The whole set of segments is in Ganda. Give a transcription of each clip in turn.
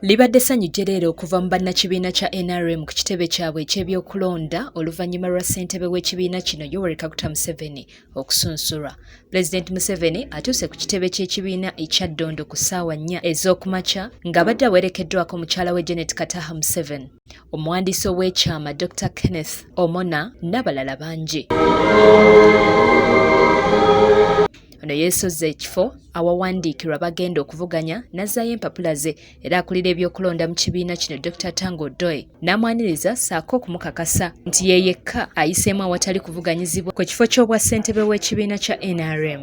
Libadde ssanyu jjereere okuva mu bannakibiina kya nrm ku kitebe kyabwe eky'ebyokulonda oluvannyuma lwa ssentebe w'ekibiina kino Yoweri Kaguta Museveni okusunsulwa. Pulezidenti Museveni atuuse ku kitebe ky'ekibiina ekya Ddondo ku ssaawa nnya ez'okumakya ng'abadde awerekeddwako mukyala we Janet Kataha Museveni. omuwandiisi ow'ekyama Dr Kenneth Omona n'abalala bangi. Ono yeesozze ekifo awawandiikirwa bagenda okuvuganya n'azzaayo empapula ze era akulira ebyokulonda mu kibiina kino Dr Tango Doi n'amwaniriza ssaako okumukakasa nti ye yekka ayiseemu awatali kuvuganyizibwa ku kifo ky'obwa ssentebe w'ekibiina kya NRM.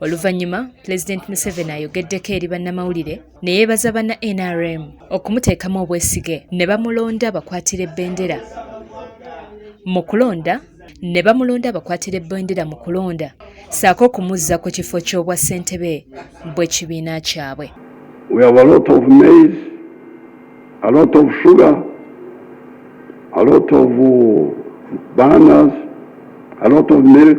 Oluvannyuma Pulezidenti Museveni ayogeddeko eri bannamawulire ne yeebaza banna NRM okumuteekamu obwesige ne bamulonda bakwatire bbendera mu kulonda ne bamulonda abakwatira ebbendera mu kulonda saako okumuzza ku kifo ky'obwa ssentebe bw'ekibiina kyabwe a lot of uh, banners, a lot of milk,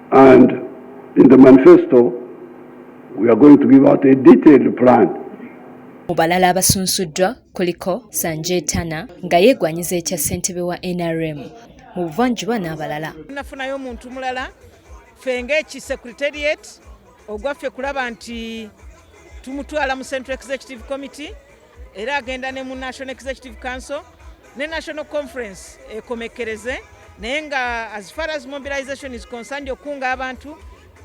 And in the manifesto, we are going to give out a detailed plan. Mu balala abasunsuddwa kuliko Sanjay Tana nga yeegwanyiza ekya ssentebe wa NRM mu buvanjuba n'abalala. Nafunayo omuntu mulala ffe ng'eki secretariat ogwaffe kulaba nti tumutwala mu Central Executive Committee era agenda ne mu national executive council ne national conference ekomekkereze naye nga as far as mobilization is concerned okukunga abantu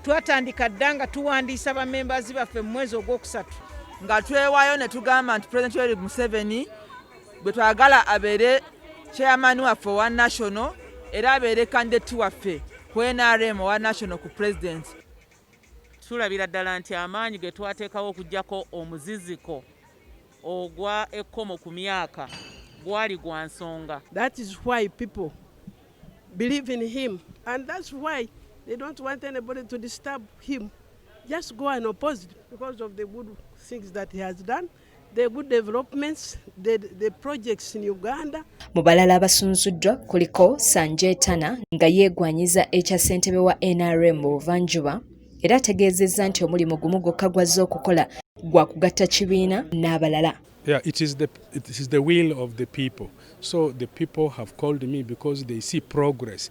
twatandika dda nga tuwandiisa bamembazi baffe mu mwezi ogwokusatu nga twewayo ne tugamba nti president yoweri museveni bwe twagala abeere chairman waffe owa national era abeere kandidati waffe ku nrm owa national ku president Tulabira ddala nti amaanyi ge twateekawo okuggyako omuziziko ogwa ekkomo ku myaka gwali gwa nsonga. That is why people believe in him and that's why they don't want anybody to disturb him just go and oppose because of the good things that he has done. Mu balala abasunzuddwa kuliko Sanjetana nga yeegwanyiza ekya ssentebe wa NRM mu buvanjuba era ategeezezza nti omulimu gumu gwokka gwazze okukola gwa kugatta kibiina n'abalala. Yeah, it is the it is the will of the people. So the people have called me because they see progress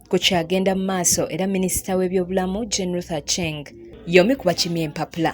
ku kyagenda mu maaso era minisita w'ebyobulamu Jane Ruth Aceng y'omu ku bakimye empapula.